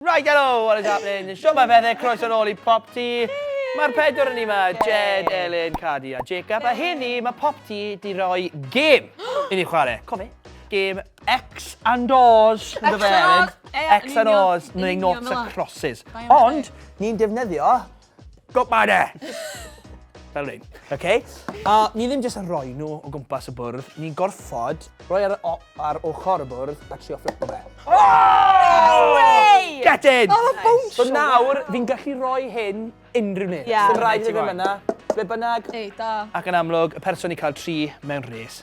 Right hello, what is happening? Shwmae Fethe, croeso nôl i Pop Ti. Mae'r pedwar yn ni ma, Jed, Elin, Cadi a Jacob. A hyn ni, mae Pop Ti di roi gêm i ni chwarae. Cofi, gêm X and O's. X and O's. X and O's, neu Noughts a Crosses. Ond, ni'n defnyddio Got my there! Fel rhain. OK? A ni ddim jyst yn rhoi nhw o gwmpas y bwrdd, ni'n gorfod rhoi ar, ar ochr y bwrdd a trio flipo fe. Oh! Get in! Oh, nice. bounce! So nawr, fi'n gallu rhoi hyn unrhyw neb. Yeah. Dim rhaid i ddim yna, ble bynnag. Ei, da. Ac yn amlwg, y person i cael tri mewn rhes.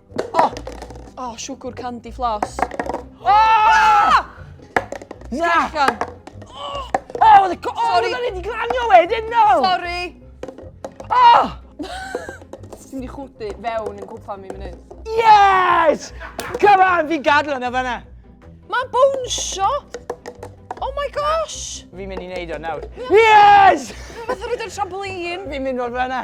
O! O, siwgwr candy floss. O! Na! Sgrechian. O! O, oedd y co... O, oedd o'n wedi glanio wedyn, no! Sorry! O! Ti'n mynd i chwdu fewn yn cwpa mi mynydd. Yes! Come on, fi'n gadw yna fanna. Mae'n bwnsio! Oh my gosh! Fi'n mynd i wneud o nawr. Yes! Fath o rwy'n trampolin. Fi'n mynd o'r fanna.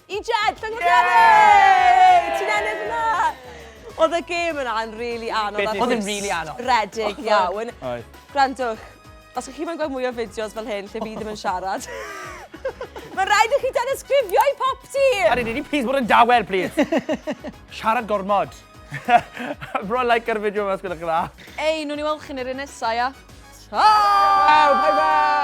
I Jed, llyngo'r Yay! Ti'n ennill yna! Oedd y gêm yna yn rili anodd. Oedd yn rili anodd. Redig iawn. Gwrandwch, os ych chi mae'n gweld mwy o fideos fel hyn lle fi ddim yn siarad, mae rhaid i chi danysgrifio i pop ti! A rydyn ni, please, bod yn dawel, please. siarad gormod. Bro, like ar y fideo yma os gwneud chi'n dda. Ei, nhw'n i weld chi'n yr un nesau, ia? Ciao! Bye bye!